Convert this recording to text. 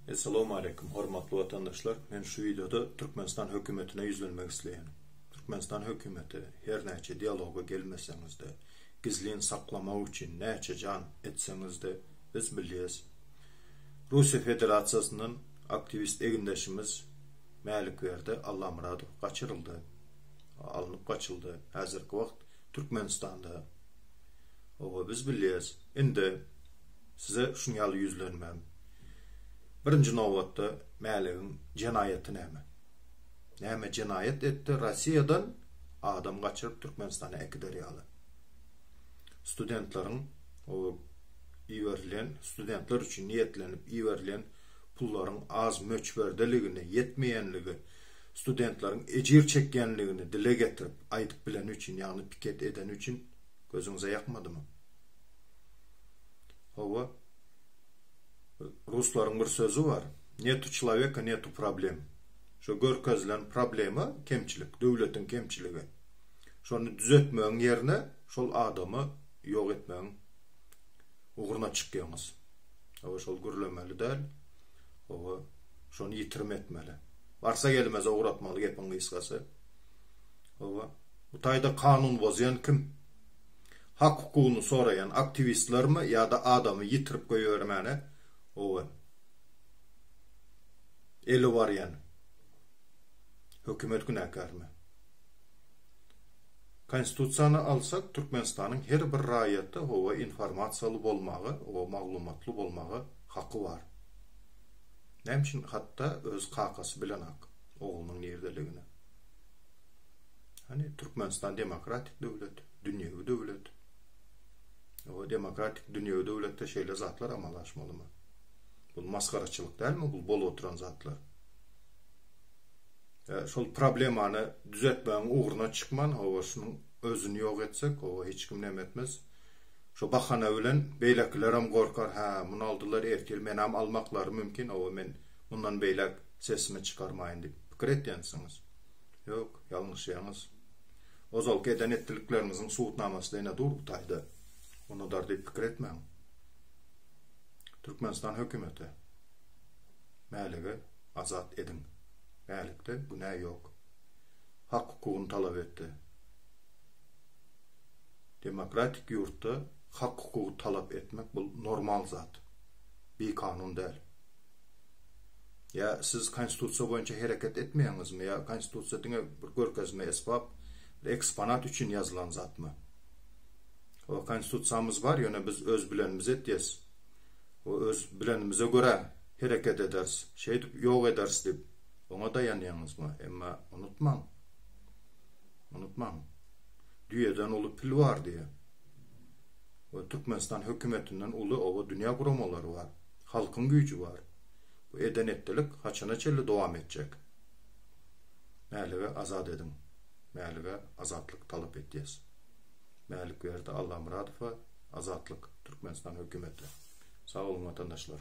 Essalamu aleýkum, hormatly watandaşlar! Men şu wideoda Türkmenistan hökümetine ýüzlenmek isleýän. Türkmenistan hökümeti, her näçe dialoga gelmeseňiz-de, gizlin saklamak üçin näçe jan etseňiz-de, biz bilýäs. Russiýa Federasiýasyndan aktiwist egindeşimiz Mälikberdi Allamyradow gaçyryldy. Alnyp gaçyldy. Häzirki wagt Türkmenistanda. Oba biz bilýäs. Indi. Size şun ýaly ýüzlenmem, birinji nobatda, Mäligiň jenaýaty näme? Näme jenaýat etdi, Rossiýadan adam gaçyryp Türkmenistana äkider ýaly? Studentleriň o iberilen, studentler üçin niýetlenip iberilen pullaryň az möçberdeligini, ýetmeýänligi, studentleriň ejir çekýänligini dile getirip, aýdyp bileni üçin, ýagny piket edeni üçin gözüňize ýakmadymy? Hawa. Ruslaryň bir sözi bar. Netu çloweka, netu problem. Şo görkezilen problema kemçilik, döwletiň kemçiligi. Şony düzetmegiň ýerine şol adamy ýok etmegiň ugruna çykýaňyz. Hawa şol gürlemeli däl. Hawa şony ýitirim etmeli. Barsa gelmeze ugratmaly gepiň gysgasy. Hawa. Bu taýda kanun bozýan kim? Hak hukugyny soraýan aktiwistlermi ýada adamy ýitirip goýbermäne owen eli barýan hökümet günäkärmi? Konstitusiýany alsak Türkmenistanyň her bir raýaty howa informasiýaly bolmaga owa maglumatly bolmaga haky bar. Näme üçin hatda öz kakasy bilenak oglunyň nirdeligini? Hany Türkmenistan demokratik döwlet. dünýewi döwlet. Ýa-da demokratik dünýewi döwletde şeýle zatlar amala aşmalymy? Bul masgaraçylyk dälmi bul bolup oturan zatlar? E, şol problemany düzetmegiň ugruna çykman, hawa şunuň özüni ýok etsek, hawa hiç kim näme etmez. Şu bahana bilen beýlekilerem gorkar, hä, muny aldylar, ertir menem almaklary mümkin, hawa men mundan beýläk sesimi çykarmaýyn diýip pikir etýänsiňiz. Ýok, ýalňyşýaňyz. Ozalky eden etdilikleriňiziň subutnamasy-da ine dur bu taýda. Unudar diýip pikir etmäň. Türkmenistan hökümeti, Mäligi azat ediň. Mälikde günä ýok. Hak-hukugyny talap etdi. Demokratik ýurtda hak-hukugy talap etmek bul normal zat. Bikanun däl. Ýa siz konstitusiýa boýunça hereket etmeýäňizmi ýa konstitusiýa diňe bir görkezme esbap, bir eksponat üçin ýazylan zatmy? Hawa konstitusiýamyz bar ýöne biz öz bilenimizi etýäs we öz bilenimize görä hereket ederis, şeýdip ýok ederis diýip oňa daýanýaňyzmy? Emma unutmaň, unutmaň, düýeden uly pil bar diýýär. We Türkmenistan hökümetinden uly oba dünýä guramalary bar, halkyň güýji bar. Bu eden-etdilik haçana çenli dowam etjek? Mälige azat ediň! Mälige azatlyk talap etýäs! Mälikberdi Allamyradowa azatlyk Türkmenistan hökümeti! Sag boluň watandaşlar!